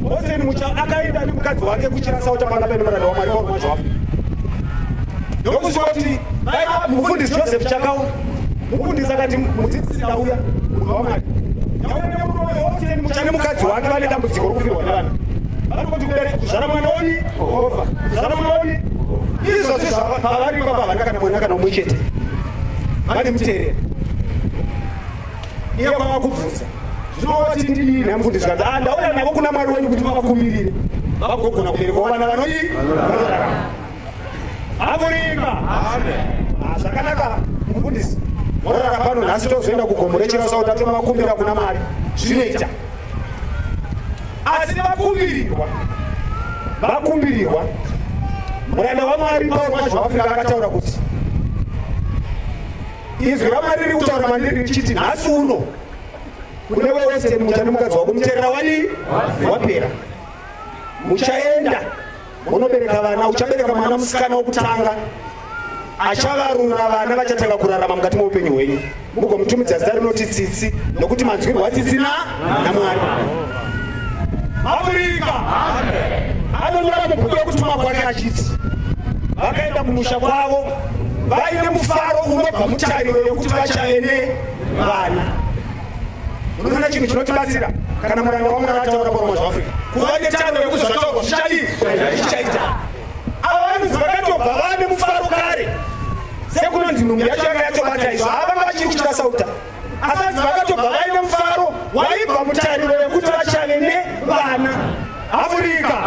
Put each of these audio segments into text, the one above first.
Moseni mucha akaenda nemukadzi wake kuchirasa utapana pene muranda waMwari Paul Mwazhwapo. Ndokusvika kuti vaiva mufundisi Joseph Chakawo. Mufundisi akati mudzidzisi ndauya munhu waMwari. Ndauya nemurume wayo Moseni mucha nemukadzi wake vane dambudziko rokufirwa nevana. Vanoti kudare kuzvara mwana woni Jehovha. Kuzvara mwana woni. Izvo zvizvo pavari baba havana kana mwana kana umwe chete. Vane mutereri. Iye kwava kubvunza. zvino wati ndidii namfundi zvikanzi a ah, ndauya navo kuna mwari wenyu kuti vavakumbirire vagogona kubereka vana vanodii vanorarama amuringa ah, zvakanaka mufundisi morara pano nhasi tozoenda kugomo rechirasa kuti atomakumbira kuna mwari zvinoita asi vakumbirirwa vakumbirirwa muranda wamwari pauro mazvavafika akataura kuti izwi ramwari riri kutaura mandiri richiti nhasi uno kune wese mucha nemukadzi wako muterera wani wapera muchaenda unobereka vana uchabereka mwana musikana wokutanga achavarura vana vachatanga kurarama mukati meupenyu hwenyu mugomutumidza zita rinoti tsitsi nokuti manzwirwo atsitsina naMwari. Mafurika anonyora mubhuku rokutuma kwake achiti vakaenda kumusha kwavo vaine mufaro unobva mutariro yokuti vachave nevana. Unoona chinhu chinotibatsira kana muranda waMwari ataura kuroma zvaafurika kuva netariro yokuti zvataurwa zvichadii zvichaita. Ava vanonzi vakatobva vane mufaro kare sekunonzi nhumbi yacho yanga yatobata izvo havanga vachiri kuchita sauta Akadzi vakatobva vaine mufaro waibva mutariro yekuti vachave nevana. Afurika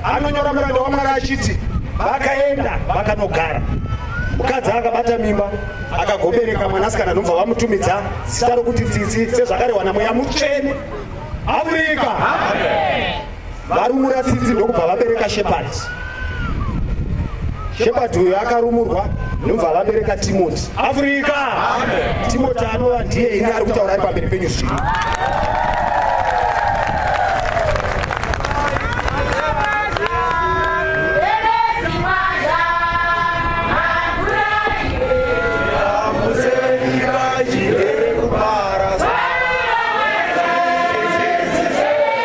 anonyora muranda waMwari achiti vakaenda vakanogara mukadzi akabata mimba akagobereka mwanasikana nobva vamutumidza zita rokuti tsitsi sezvakarehwa namweya mutsvene afurika varumura tsitsi ndokubva vabereka shepard shepard uyo akarumurwa ndobva vabereka timoti afrika timoti anova ndiye ini ari kutaura ari pamberi penyu zvino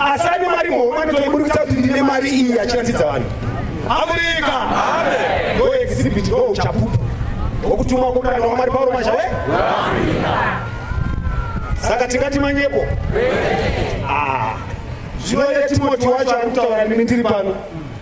asi ane mari muhomwe anotoiburikisa kuti ndine mari iyi achiratidza vanhu amerika ndoexhibit ndo uchapupu wokutumwa kukana wamwari pauro mashawe saka tingati manyepo ah. zvino yetimoti wacho ari kutaura nini ndiri pano